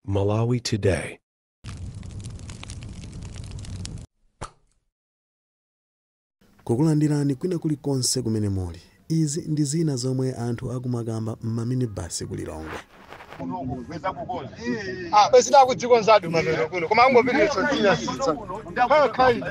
Malawi Today. Kukulandirani kwina kulikonse kumene muli izi ndi zina zomwe anthu akumakamba m'maminibasi ku lilongwe Ah, basi ndakudzikonzadi mapeto kuno koma angopitiriza dzina sitsa khala khaida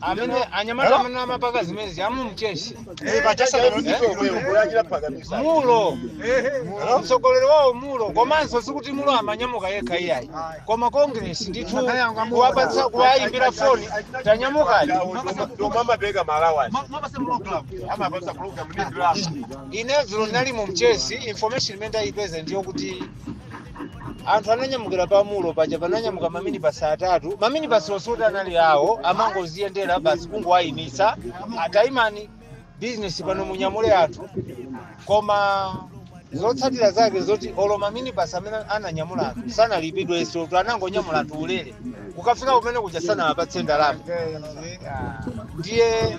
amene anyamata amene amapanga zimenezi a mu Mchesi mulo mtsogoleri wawo mulo komanso sikuti mulo amanyamuka yekha iyayi koma congress ndithu kuwapatsa kuwayimbira foni tanyamukani amapeka malawani amapatsa program ni drama ine dzulo nali mu Mchesi information imene ndayipeza ndi yakuti anthu ananyamukira pamulo paja pananyamuka maminibasi atatu maminibasi osati anali awo amangoziyendera basi kungowayimitsa a tayimani bizinesi pano munyamule anthu koma zotsatira zake zoti olo maminibasi amene ananyamula anthu sanalipidwenso tu anangonyamula anthu ulere kukafika kumene kuja sanawapatse ndalama ndiye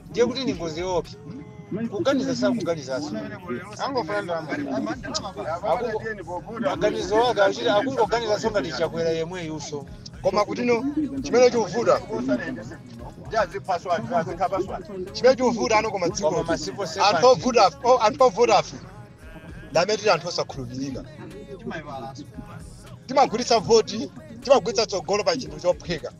ndiye kuti ni ngozi yoopsa kuganiza sakuganizaso angofuna ndalama Akungo- maganizo ake akuti akungoganizaso ngati Chakwera yemweyuso koma kutino chimene chikuvuta chimene chikuvuta ano koma dziko koma masipo anthu ovuta ife- o- anthu ovuta ife ndamene tili anthu osakhulupirika timagulitsa voti timagulitsa tsogolo pa chinthu chophweka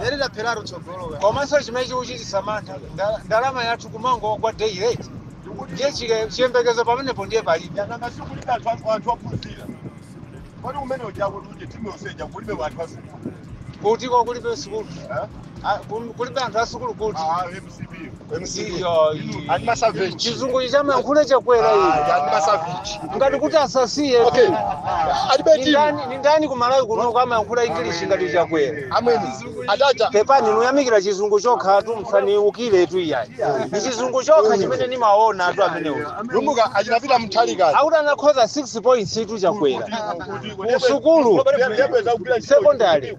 lero tapheratu tsogolo komanso chimene chikuchititsa mantha nda- ndalama yathu kumangogwa day rate ndiye chike- chiyembekezo pamenepo ndiye palibe nanga sikulibe anthu anthu- anthu ophunzira pali umene ujako kuti timu yonse ija kulibe anthu asukulu kuti uko kulibe sukulu Ah, kum- kulibe anthu asukulu kuti chizungu chomayankhula Chakwera iyi ngati kuti asasiye Okay. Alibe timu. Nindani- nindani ku Malawi kuno amayankhula ingilishi ngati Chakwera Amwene. Adata. pepani nuyamikira chizungu chokhatu msaniukire tu iyayi ni chizungu chokha chimene nimaona anthu amenewo Lumbuka achinapita mtalikazi. akuti anakhoza 6 points tu Chakwera kusukulu Yabweza kugwira ntchito. sekondari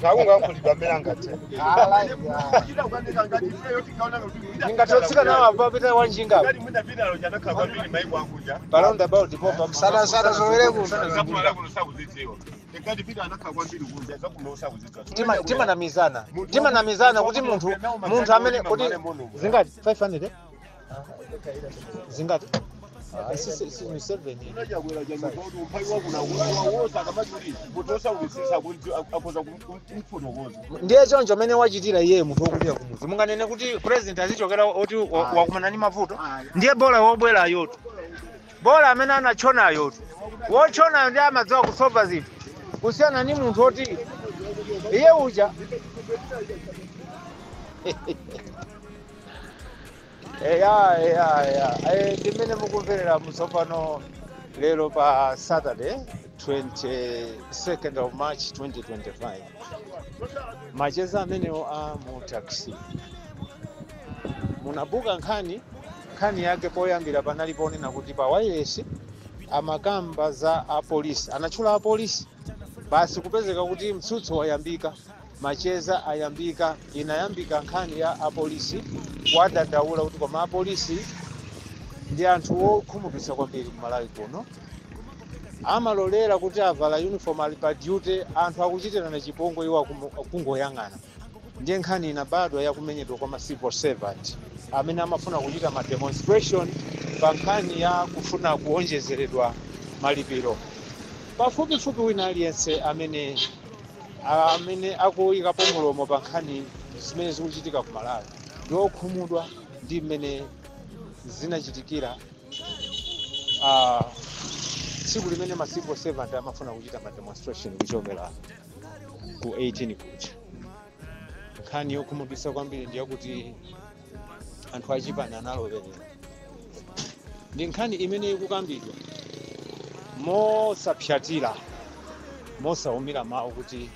taungankulidwa amene angathe ndingatotsika nawo apa pita wanjinga apa. Around about the pop up. Sana sana zowele kuno. Tima tima namizana. Tima namizana kuti munthu munthu amene kuti zingati 500 eh? zingati Ah, si- si- si- ndi seven. unachita kukwera chifukwa cha umphawi wakunakuiwa wose akamati kuti munthu osaukitsitsa akhoza kumfotokoza ndiye choncho mmene wachitira iyeyo munthu wokulira kumuzi munganene kuti president azichokera oti wa- Ayi. wakumana ndi mavuto Ayi. ndiye bola wobwerayotu bola amene anatchonayotu wotchonayo ndiye amadziwa kusova zinthu kusiyana ndi munthu oti iye uja eya eya eya Eh, ndi mmene mukumverera mu Tsopano lero pa saturday 22nd of march 2025 macheza amenewo a mu taxi munabuka nkhani nkhani yake poyambira panali ponena kuti pa wailesi amakamba za apolisi anatchula apolisi basi kupezeka kuti mtsutso wayambika Macheza ayambika, inayambika nkhani ya apolisi kuwadandaula kuti koma apolisi ndi anthu okhumudwitsa kwambiri ku Malawi kuno, amalolera kuti avala uniform ali pa duty anthu akuchitirana chipongwe iwo akumu- akungoyang'ana. Ndiye nkhani inabadwa ya kumenyedwa kwa ma civil servant amene amafuna kuchita ma demonstration pa nkhani ya kufuna kuonjezeredwa malipiro. Pafupifupi wina aliyense amene amene akuyikapo mulomo pa nkhani zimene zikuchitika ku malawi ndi okhumudwa ndi mmene zinachitikira ah, tsiku limene ma civil servant amafuna kuchita ma demonstration kuchokera ku 18 kuja nkhani yokhumudwitsa kwambiri ndiyakuti anthu achipani analowerera ndi nkhani imene ikukambidwa mosapsyatira mosaumira mawu kuti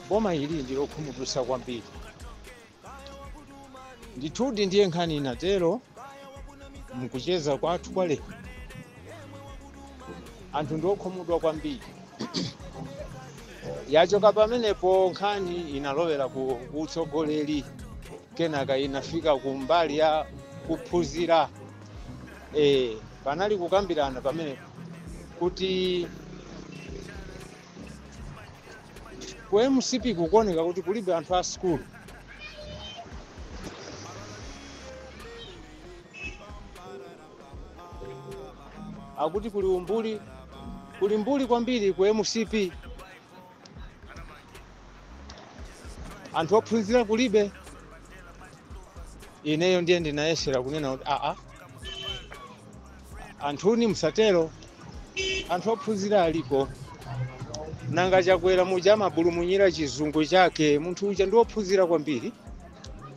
boma ili ndi lokhumudwitsa kwambiri ndithudi ndiye nkhani inatero mukucheza kwathu kwa lero anthu ndi okhumudwa kwambiri yachoka pamenepo nkhani inalowera ku utsogoleri kenaka inafika ku mbali ya kuphunzira e, panali kukambirana pamenepo kuti ku mcp kukuoneka kuti kulibe anthu a sukulu akuti kuli umbuli kuli mbuli kwambiri ku mcp anthu ophunzira kulibe ineyo ndiye ndinayesera kunena kuti aa anthuni musatero anthu ophunzira aliko nanga chakwera muja amabulumunyira chizungu chake munthu uja ndi wophunzira kwambiri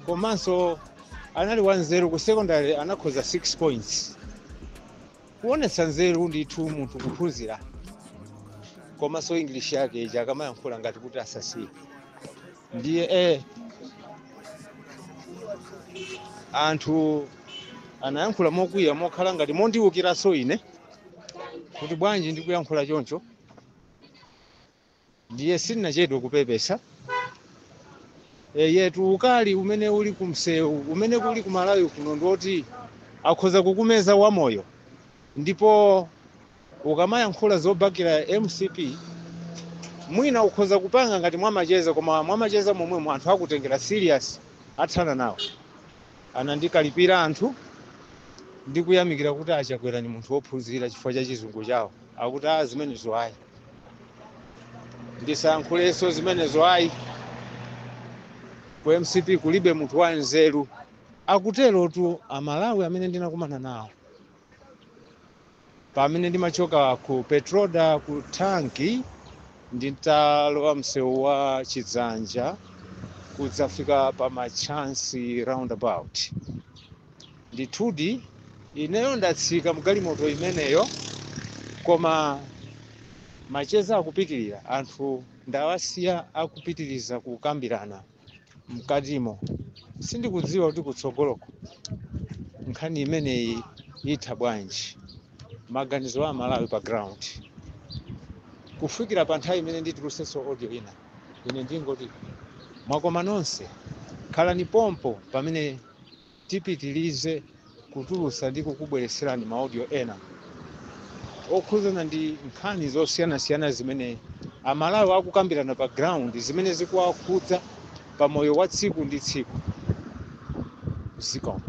komanso anali wanzeru ku secondary anakhoza 6 points Kuonetsa nzeru ndithu munthu kuphunzira komanso english yake ija akamayankhula ngati kuti asasiye ndiye eh, anthu anayankhula mokwiya mokhala ngati mondiwukiranso ine kuti bwanji ndikuyankhula choncho ndiye sindinachedwe kupepesa eyetu ukali umene uli kumsewu umene uli ku Malawi kuno ndiwoti akhoza kukumeza wamoyo ndipo ukamayankhula zobakira mcp mwina ukhoza kupanga ngati mwamacheza koma mwamacheza momwemo anthu akutengera serious athana nawo anandikalipira anthu ndikuyamikira kuti a Chakwera ndi munthu wophunzira chifukwa cha chizungu chawo akuti a zimenezo ayi ndisayankhulenso zimenezo ayi ku mcp kulibe munthu wanzeru akuterotu amalawi amene ndinakumana nawo pamene ndimachoka ku petroda ku tanki nditalowa msewu wa chidzanja kudzafika pa machansi roundabout Ndithudi, ineyo ndatsika m'galimoto imeneyo, koma macheza akupitirira. Anthu ndawasiya akupitiriza kukambirana m'katimo. Sindikudziwa kuti kutsogoloko nkhani imeneyi itha bwanji. Maganizo a Amalawi pa ground. Kufikira pa nthawi imene nditulutsenso audio ina, ine ndingoti mwakoma nonse. Khalani pompo pamene tipitilize kutulutsa ndi kukubweretserani ma audio ena okhudzana ndi nkhani zosiyanasiyana zimene amalawi akukambirana pa ground zimene zikuwakhudza pa moyo wa tsiku ndi tsiku zikomo